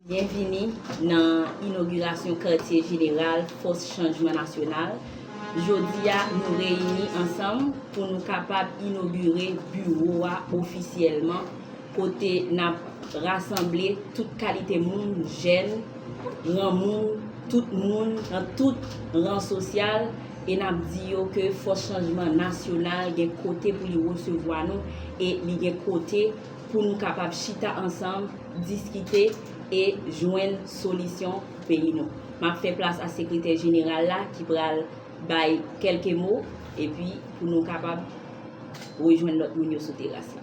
Byenvini nan inogirasyon katye jeneral Fòs Chanjman Nasyonal. Jodi a, nou reyini ansanm pou nou kapab inogire biwo a ofisyèlman. kote n ap rasanble tout kalite moun, jèn, granmoun, tout moun nan tout ran sosyal e n ap di yo ke Fòs Chanjman Nasyonal gen kote pou li resevwa nou e li gen kote pou nou kapab chita ansanm, diskite e jwenn solisyon pou peyi nou. M ap fè plas a Sekretè Jeneral la ki pral bay kèlke mo epi pou nou kapab rejwenn lòt moun yo sou teras la.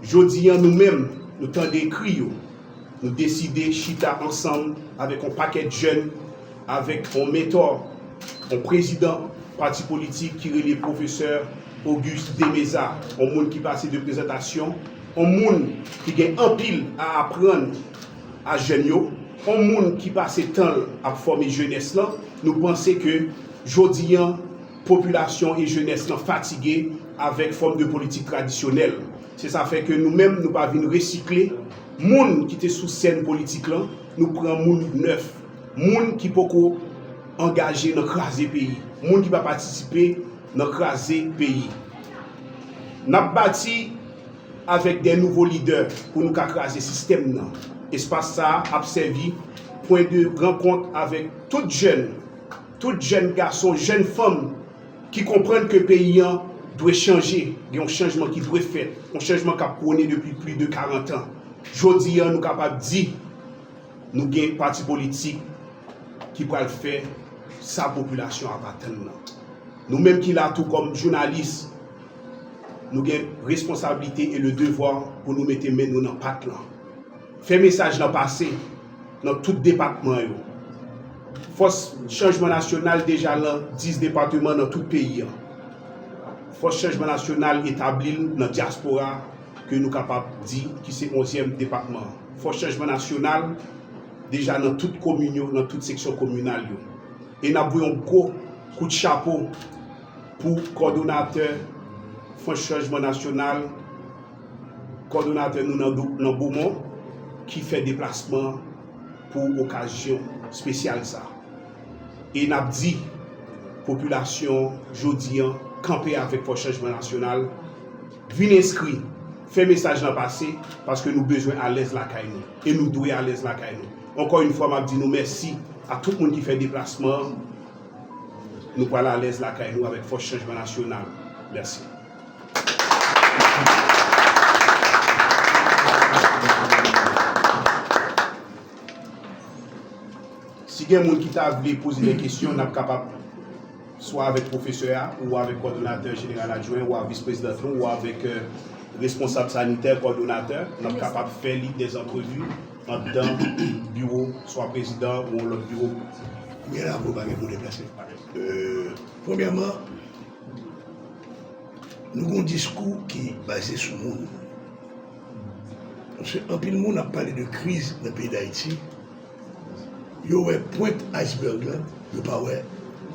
Jodi an nou menm, nou tande kri yo, nou deside chita ansanm avèk on pakèt jèn, avèk on mentò, on prezidan pati politik ki rele pwofesè Auguste Demeza, on moun ki pase de prezantasyon, on moun ki gen anpil a aprann a jèn yo, on moun ki pase tan l ap fòme jenès lan, nou panse ke jodi an, Popilasyon e jenès lan fatige avèk fòm de politik tradisyonèl. Se sa fè ke nou menm nou pa vin resikle moun ki te sou sèn politik lan, nou pran moun nèf, moun ki poko angaje nan kraze peyi, moun ki pa patisipe nan kraze peyi. N ap bati avèk de nouvo lidè pou nou ka kraze sistèm nan. Espas sa a ap sèvi pwen de rankont avèk tout jèn. Tout jèn gason, jèn fanm ki konprann ke peyi an dwe chanje, gen yon chanjman ki dwe fèt, yon chanjman k ap pwone depi plis de 40 an. Jodi a nou kapab di nou gen pati politik ki pral fè sa popilasyon an ap atann nan. Nou menm ki la tou kòm jounalis, nou gen responsablite e le devwa pou nou mete men nou nan pat lan. Fè mesaj lan pase. Nan tout depatman yo. Fòs chanjman nasyonal deja lan 10 depateman nan tout peyi an. Fòs chanjman nasyonal etabli l nan dyaspora ke nou kapab di ki se onzyèm depatman an. Fòs chanjman nasyonal deja nan tout komin yo, nan tout seksyon kominal yo. E n ap voye yon gwo kout chapo pou kòdonatè fòs chanjman nasyonal, Kòdonatè nou nan Bomon ki fè deplasman pou okazyon spesyal sa. E nap di popilasyon jodi an kanpe avèk Fòs Chanjman Nasyonal, vin enskri, fè mesaj lan pase paske nou bezwen alèz lakay nou e nou dwe alèz lakay nou. Ankò yn fwa map di nou mèsi a tout moun ki fè deplasman an, nou pral alèz lakay nou avèk Fòs Chanjman Nasyonal. Mèsi. Si gen moun ki ta vle poze de kesyon, n ap kapab swa avèk pwofesè a, ou avèk kòdonatè jeneral adjwen, ou avèk vis prezidant nou, ou avèk responsab sanitè, kòdonatè. N ap kapab fè li de antrevi anndan biwo swa prezidan ou yon lòt biwo. Premyèman, Nou gen yon diskou ki baze sou moun. Paske anpil moun ap pale de kriz nan peyi Dayiti, yo wè pwent iceberg lan, yo pa wè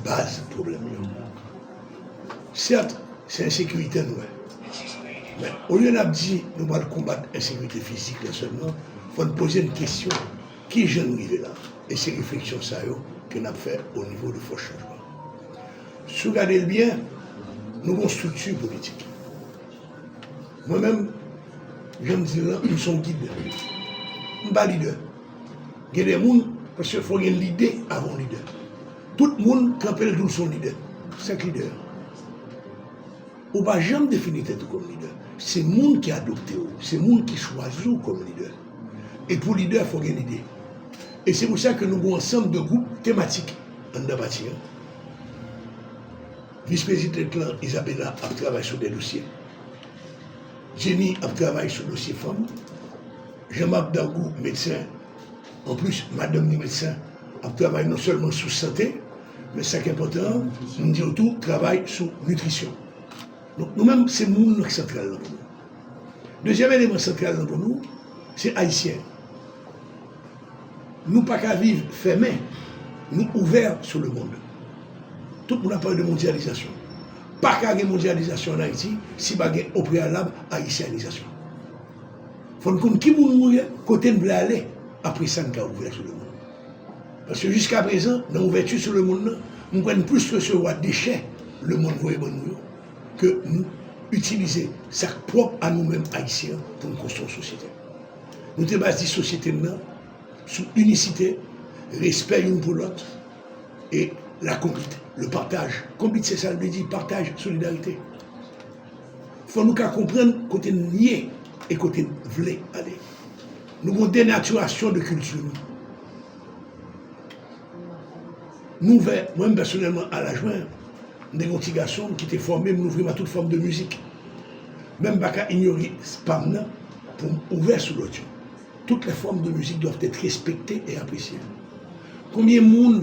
baz pwoblèm yo. Sèt, se ensekirite n wè. Men, olye n ap di nou pral konbat ensekirite fizik la sèlman, fò n poze n kesyon. Ki jan n rive la? E se refleksyon sa yo ke n ap fè o nivo de Fòs Chanjman. Si w gade l byen, nou gen yon estrikti politik. Mwen menm, jan m di l lan, m se yon gid. M pa lidè. Gen de moun, paske fò gen lide avan w lidè. Tout moun kanpe l di w se yon lidè. Sèk lidè an. Ou pa janm defini tèt ou kòm lidè. Se moun ki adopte w. Se moun ki chwazi w kòm lidè. E pou lidè fò gen lide. E se pou sa ke nou gen yon ansanm de gwoup tematik anndan pati an. Vis prezidan lan Isabella ap travay sou de dosye. Jenny ap travay sou dosye fanm. Jean Marc Dargou medsen, an plis madanm li medsen, ap travay non sèlman sou sante, men sa ki enpòtan an, m di yo tou travay sou nitrisyon. Donk nou menm se moun nan ki santral lan pou nou. Dezyèm eleman santral nan pou nou se Ayisyen. Nou pa ka viv fèmen ni ouvè sou lemond. Tout moun ap pale de mondyalizasyon. Pa ka gen mondyalizasyon an Ayiti si pa gen o preyalab Ayisyanizasyon. Fò n konn ki moun nou ye, kote n vle ale, apre sa n ka ouvè sou lemond. Paske jiskaprezan, nan ouvèti sou lemond nan, m kwè n plis resevwa dechè lemond voye ban nou yo Ke nou itilize sa k pwòp a nou menm Ayisyen an pou n konstwi yon sosyete. Nou te baze sosyete n nan sou inisite, respè youn pou lòt e lakonbit, le partage. Konbit se sa l vle di, pataj, solidarite. Fò nou ka konprann kote n ye e kote n vle ale. Nou gen yon denatirasyon de kilti nou. M ouvè, mwen menm pèsonèlman a laj mwen, m te gen yon ti gason m ki te fòme m, louvri m a tout fòm de mizik. Men m pa ka inyore pa m nan pou m ouvè sou lòt yo. Tout lè fòm de mizik dwav èt respekte e apresye. Konbyen moun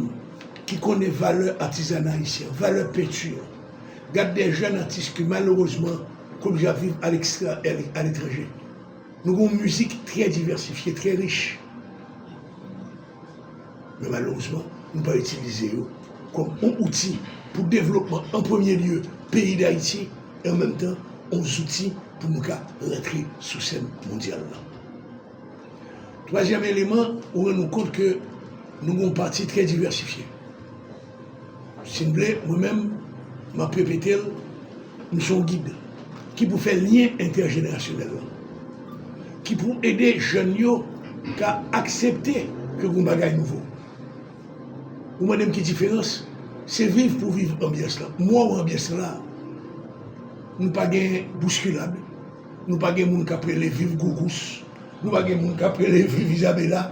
ki konnen valè atizana ayisyen an, valè penti an? Gad de jèn atis ki malerezman ki oblije ap viv alekstra e aletranje. Nou gen yon mizik trè divèsifye, trè rich. Men malerezman, nou pa itilize yo kòm yon outi pou devlopman an premye lye peyi Dayiti e an menm tan yon zouti pou nou ka rantre sou sèn mondyal la. Twazyèm eleman, ou rann nou kont ke nou gen yon pati trè divèsifye. Si n vle, mwen menm, m ap repete l, m se yon gid ki pou fè lyen entèjenerasyonèl lan, ki pou ede jèn yo ka aksepte ke gon bagay nouvo. Ou mande m ki diferans, se viv pou viv anbyans lan. M wè w anbyans lan la a, nou pa gen bouskilad, nou pa gen moun k ap rele viv Gougous, nou pa gen moun k ap rele viv Izabela,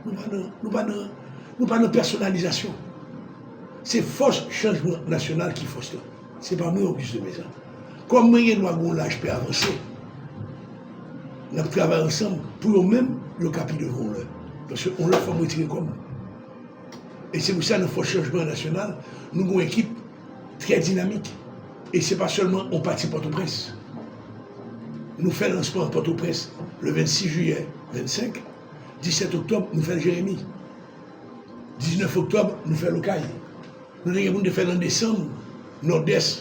nou pa nan, nou pa nan. Nou pa nan pèsonalizasyon. Se fòs chanjman nasyonal ki fòs lan. Se pa mwen Auguste Demesle. Kòm mwen gen dwa gen yon laj pe avanse, n ap travay ansanm pou yo menm yo ka pi devan yon lè. Paske yon lòt fwa m retire kò m. E se pou sa nan fòs chanjman nasyonal, nou gen yon ekip trè dinamik. E se pa sèlman yon pati Pòtoprens. Nou fè lansman an Pòtoprens le 26 jiyè 25. 17 oktòb nou fèl jeremi 19 oktòb nou fèl okay nou te gen poun te fèl an desanm nòdès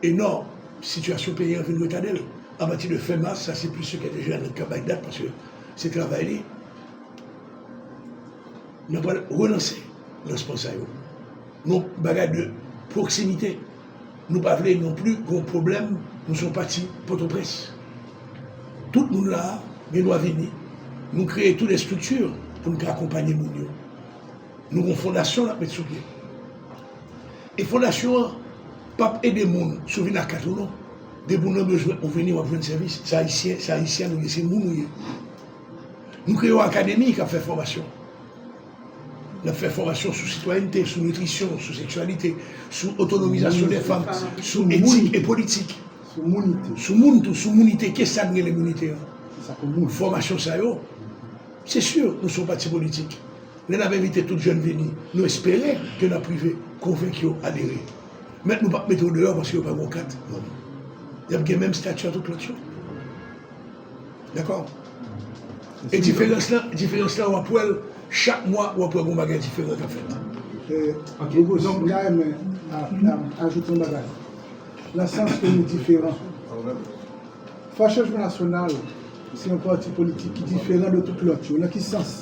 e nò sitiyasyon peyi an vin retadel apati de fen mas sa se plis sekrè de Jeannot kap bay dat paske se travay li nou pral relanse lansman sa yo nou bagay de pwoksimite. Nou pa vle non pli gon pwoblèm nou son pati potoprens tout moun la gen dwa vini nou kreye tou lè estrikti pou nou ka akonpanye moun yo nou gon fondasyon nap met sou pye e fondasyon an pap ede moun sou vin ak kat ou non depi ou nan bezwen ou vini wap jwenn sèvis se ayisyen se ayisyèn ou ye se moun ou ye nou kreye yon akademi kap fè fòmasyon. N ap fè fòmasyon sou sitwayènte, sou nitrisyon, sou seksyalite, sou otonomizasyon dè fanm, sou etik e politik, sou moun tou, sou mounite, ke sa n rele mounite an? Fòmasyon sa yo, se si nou son pati politik, lè n ap envite tout jèn vini, nou espere ke n ap rive konvenk yo adere. Men nou p ap mete yo deyò paske yo pa gen yon kat manm. Y ap gen menm stati a tout lòt yo. Dakò? E diferans lan, diferans lan wap wèl chak mwa wap wè gon bagay diferan kap fèt. Ok, donk m ta renmen ajoute yon bagay. Nan sans ke nou diferan. Fòs Chanjman Nasyonal se yon pati politik ki diferan de tout lòt yo. Nan ki sans?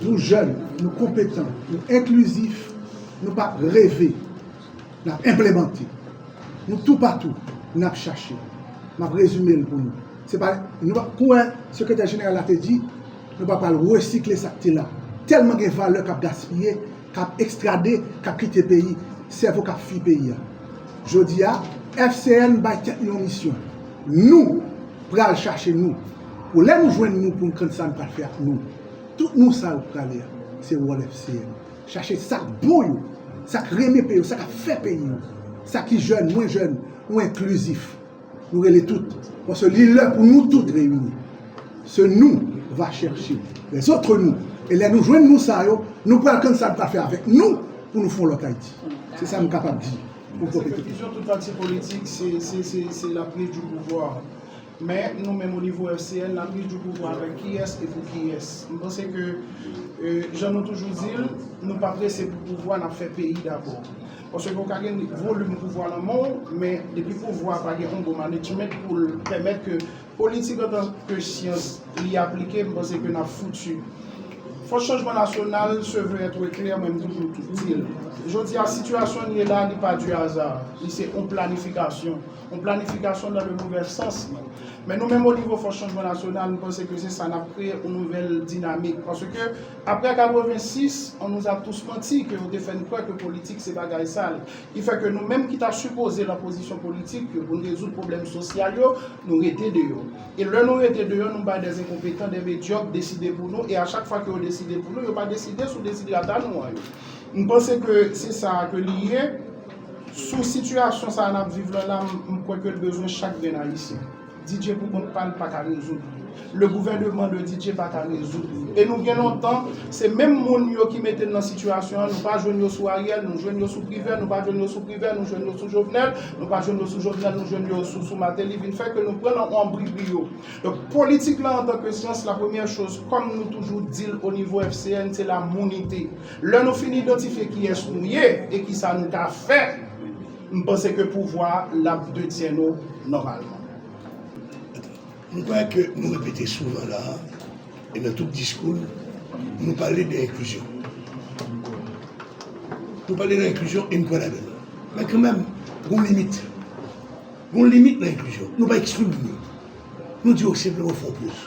Nou jèn, nou konpetan, nou enklizif, nou pa reve. N ap enplemante. Nou toupatou, n ap chache. M ap rezime l pou nou. Se pa, nou pa, kou wè Sekretè Jeneral la te di, nou pa pral resikle sa k te la. Tèlman gen valè k ap gaspiye, k ap ekstrade, k ap kite peyi, sèvo k ap fui peyi a. Jodi a, FCN bay tèt li yon misyon. Nou pral chache nou. Pou lè nou jwenn nou pou n konn sa n pral fè ak nou. Tout nou sa yo k prale a, se wòl FCN. Chache sa k bon yo, sa k renmen peyi yo, sa k ap fè peyi yo, sa ki jèn, mwen jèn ou enklizif. Nou rele tout, paske li lè pou nou tout reyini. Se nou va chèche les autres nous e lè nou jwenn nou sa yo, nou pral kann sa nou pral fè avèk nou pou nou fè yon lòt Ayiti. Se sa m kapab di pou m pwofite. Pèsepekizyon tout pati politik se la prise du pouvoir. Men, nou menm o nivo FCN, n ap di jou pou jou avèk kiyès e pou kiyès. M panse ke, jan nou toujou di l, nou pa prese pou pouvwa, n ap fè peyi dabò. Paske ou ka gen volim pouvwa nan men w, men depi pouvwa a pa gen yon bon manejment pou l pèmèt ke politik antan ke syans li aplike, m panse ke n ap foutu. Fòs Chanjman Nasyonal se veut être clair men m toujou di l. Jodi a, sitiyasyon n ye la, li pa du hasard. Li se yon planifikasyon. yon planifikasyon nan yon nouvèl sans. Men nou menm o nivo Fòs Chanjman Nasyonal, nou panse ke se sa n ap kreye yon nouvèl dinamik. Paske aprè 86, on nous a tous menti ke yo te fè n kwè ke politik se bagay sal. Ki fè ke nou menm ki ta sipoze lan pozisyon politik yo pou n rezoud pwoblèm sosyal yo, nou rete deyò. E lè nou rete deyò, nou bay dè enkonpetan, dè medyòk deside pou nou, e a chak fwa ke yo deside pou nou, yo pa deside sou desiderata nou an yo. M panse ke se sa a ke li ye. Sou sitiyasyon sa a nap viv lan la m kwè ke l bezwen chak grenn ayisyen. DJ pou kont pa l pa ka rezoud li. Le gouvèneman de DJ pa ka rezoud li. E nou gen lontan se menm moun yo ki mete n lan sitiyasyon an nou pa jwenn yo sou Ariel nou jwenn yo sou Privè nou pa jwenn yo sou Privè nou jwenn yo sou Jovenel nou pa jwenn yo sou Jovenel nou jwenn yo sou Martelly vin fè ke nou pran lan anbribri yo. Donk politik lan antanke syans la premyè choz kòm nou toujou di l onivo FCN se la mounite. Lè nou fin idantifye kiyès nou ye e kisa nou ta fè, m panse ke pouvwa l ap detyen nou nòmalman. M kwè ke nou repete souvan la a e nan tout diskou n, nou pale de enklizyon. Nou pale de enklizyon e m kwè ladan l. Men kanmenm, gon limit. Gon limit nan enklizyon. Nou pa ekskli moun yo. Nou di yo senpleman fè yon poz.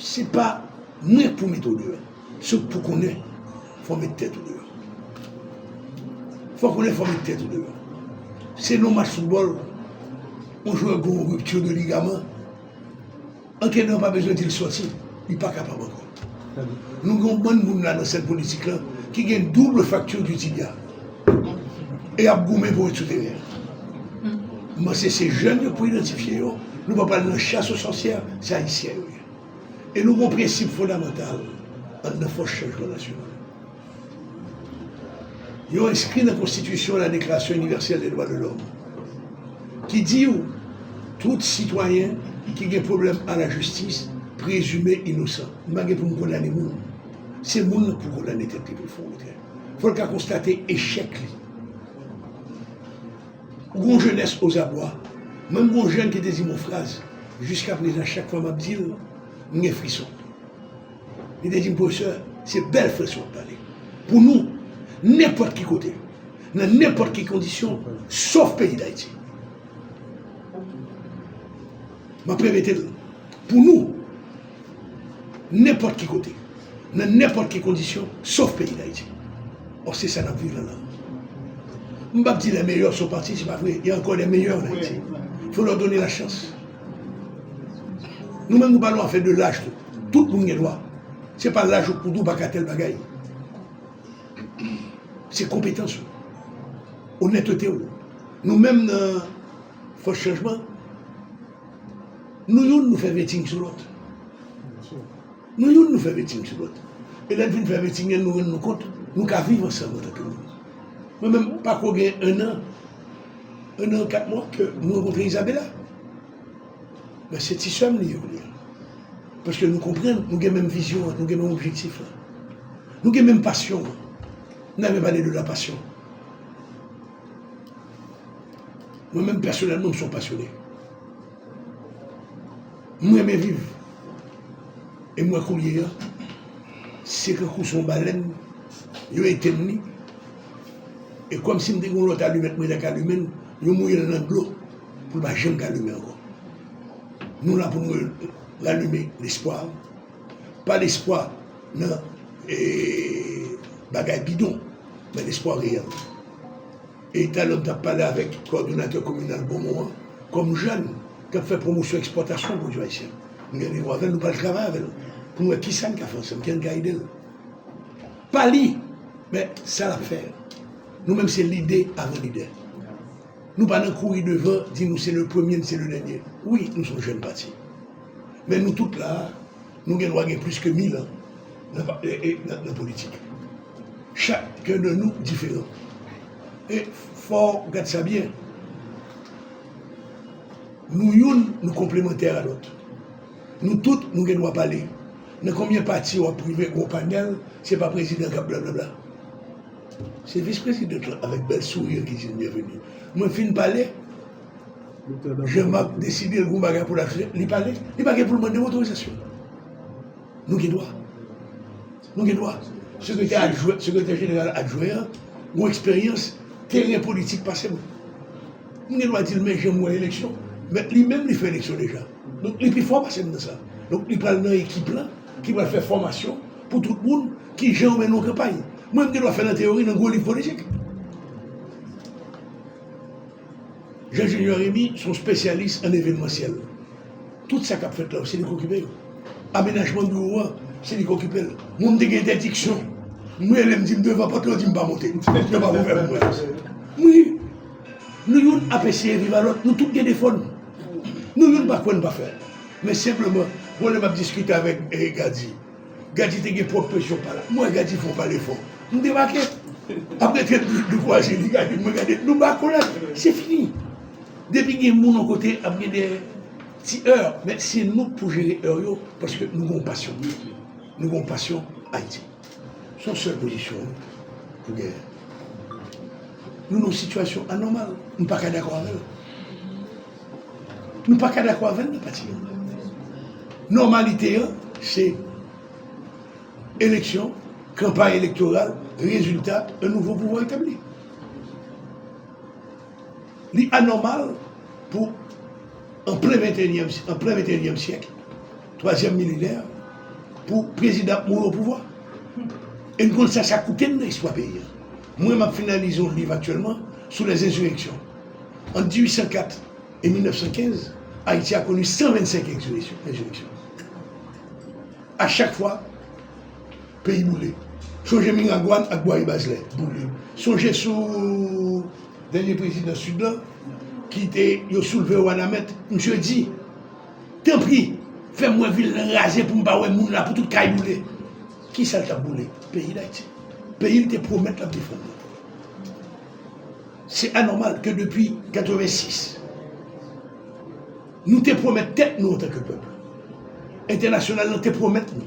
Se pa mwen pou mete w deyò. Se w pou konnen fò w met tèt ou deyò. Fò w konnen fò w met tèt ou deyò. Se nan yon match foutbòl, yon jwè gen yon ripti de ligaman, antrenè an pa bezwen di l sòti, li pa kapab ankò. Nou gen yon bann moun la nan sèn politik lan ki gen double fracture du tibia. e ap goumen pou rekipere l. M panse se jèn yo k pou idantifye yo, nou pa pral nan chas o sòsyè, se Ayisyen yo ye. E nou gen yon prensip fondamantal an nan fòs chanjman nasyonal. Yo enskri nan konstitisyon la Deklarasyon inivèsèl de dwa de lòm ki di yo tout sitwayen ki gen pwoblèm a la jistis prezime inosan. M pa gen pou m kondane moun, se moun nan k pou kondane tèt li pou l fè yon retrè. Fò l ka konstate echèk li. Ou gen yon jenès ozabwa. Menm gen yon jèn ki te di m yon fraz, jiskaprezan chak fwa m ap di l, m gen frison. Li te di m, Pwofesè, se bèl frison w ap pale. Pou nou, nenpòt ki kote, nan nenpòt ki kondisyon, sof peyi Dayiti. M ap repete l, pou nou. Nenpòt ki kote, nan nenpòt ki kondisyon, sof peyi Dayiti. Ò se sa n ap viv la la. M p ap di lè meyè sou pati, se pa vre, gen ankò lè meyè an Ayiti. Fò lò done la chans. Nou menm nou pa nan afè de laj tou. Tout moun gen dwa. Se pa laj ou k pou di ou pa ka tèl bagay. Se konpetans ou. Onètete ou. Nou menm nan fòs chanjman. Nou youn nou fè vetting sou lòt. Nou youn nou fè vetting sou lòt. E lè n fin fè vetting an nou rann nou kont nou ka viv ansanm antanke moun. Mwen menm pa ko gen 1 an, 1 an 4 mwa ke m rankontre Izabela. Men se ti sè m li ye kounye a. Paske nou konprann, nou gen menm vizyon an, nou gen menm objektif la. Nou gen menm pasyon an. Nou ta renmen pale de la passion. Mwen menm pèsonèlman m son pasyone. M renmen viv. E m wè koulye a, se tankou son balèn, yo etenn li, e kòm si m te gen yon lòt alimèt mwen ta ka limen, yo mouye l nan dlo pou l pa janm ka limen ankò. Nou la pou nou ralime lespwa. Pa lespwa nan bagay bidon, men lespwa reyèl. E talè m t ap pale avèk kòdonatè kominal Bonmon an, kòm jèn k ap fè pwomosyon ekspòtasyon pwodui ayisyen, m gen randevou avè l, nou pral travay avè l pou n wè ki sa n ka fè ansanm, ki jan n ka ede l. Pa li, men sa l ap fè. Nou menm se lide avan lidè. Nou pa nan kouri devan di nou se le premye, n se le dènye. Wi, nou se yon jèn pati. Men nou tout la a, nou gen dwa gen plis ke mil an nan politik. Chak ken de nou diferan. E fow gad sa byen. Nou youn nou konplemantè a lot. Nou tout nou gen dwa pale. Nan konbyen pati wap rive gon panel se pa prezidan kap blablabla. Se vis president lan avek bel sourire ki dil byenveni. Mwen fin pale Jean Marc deside l gon bagay pou lap fè li pale. Li pa gen poul mande otorizasyon. Nou gen dwa. Nou gen dwa. Sekretè jeneral adjwen an gen eksperyans teren politik pase m. M gen dwa di l men jan m wè eleksyon. Men li menm li fè eleksyon deja. Donk li pi fò pase m nan sa. Donk li pral nan ekip la ki pral fè fòmasyon pou tout moun ki jan yo mennen yon kanpay. Mwen m gen dwa fè nan teyori nan gwo liv politik. Jean Junior Remy se yon spesyalis an evenmansyèl. Tout sa k ap fèt la, se li k okipe yo. Amenajman biwo a, se li k okipe l. Moun te gen entèdiksyon. M rele, m di m devan pòt la, yo di m pa monte. Yo pa ouvè pou mwen. Wi, nou youn ap eseye viv a lòt. Nou tout gen defo nou. Nou youn pa kwè n pa fè. Men senpleman, bon lè m ap diskite avèk Gadji. Gadji te gen pwòp presyon pa l. M wè Gadji fò, pale fò. M debake. Apre 30 minit nou kwaze, li gade m, mwen gade l. Nou ba kolad. Se fini. Depi gen moun yon kote ap gen de ti èr men se nou k pou jere èr yo paske nou gen yon pasyon pou peyi nou gen yon pasyon pou Ayiti se yon sèl pozisyon pou genyen nou nan yon sitiyasyon anòmal nou pa ka dakò avè l nou pa ka dakò avè l nan pati nou nòmalite an se eleksyon kanpay elektoral rezilta yon nouvo pouvwa etabli. Li anòmal pou, an plen ventenyèm syèk, twazyèm milenè, pou prezidan ap mouri opouvwa. E n konn sa sa koute n nan istwa peyi a. Mwen m ap finalize yon liv aktyèlman sou lè enzireksyon. Ant 1804 e 1915, Ayiti a koni 125 enzireksyon. A chak fwa. Peyi boule. Sonje Miragwàn ak Bwaye Bazlè boule. Sonje sou dènye prezidan Sid lan ki te yo soulve Wanament. Misye di, Tanpri, fè m wè vil lan raze pou m pa wè moun la, pou tout kay boule. Ki sa l t ap boule? Peyi Dayiti. Peyi l te pwomèt l ap defann nan. Se anòmal ke depi 86, nou te pwomèt tèt nou antanke pèp, entènasyonal lan te pwomèt nou,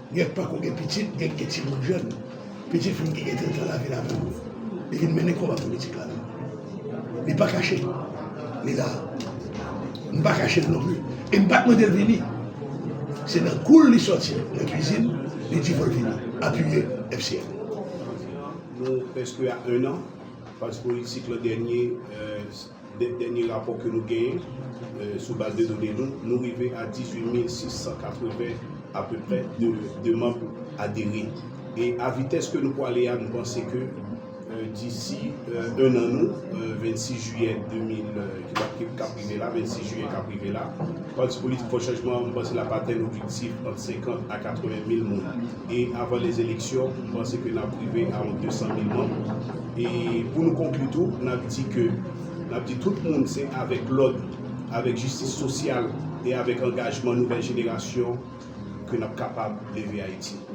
Gyèt pako gen pitit, gyèt gen timoun jèn. Pitit fi m ki gen 30 lan lavi l avè m. Li vin mennen konba politik la avè m. Li pa kache li la. M pa kache l non pli. E m pa t mande l vini. Se nan kou l li sòti nan kuizin li di fò l vini apiye FCN. Nou prèske a ennan faz politik lan dènye. Dèt dènye rapò ke nou genyen, sou baz de done nou, nou rive a 18 mil 680 apeprè de demann pou adere. E a vitès ke nou pwale a, nou panse ke disi 1 an nou, 26 jiyè 2000, kap rive la, 26 jiyè kap rive la, Pati Politik Fò Chanjman an, mwen panse lap atenn objektif ant 50 a 80 mil moun. e avan les eleksyon m panse ke nap rive a yon 200 mil manm e pou nou konkli tou nap di ke nap di tout moun se avèk lòd avèk jistis sosyal e avèk angajman nouvèl jenerasyon ke nap kapab leve Ayiti.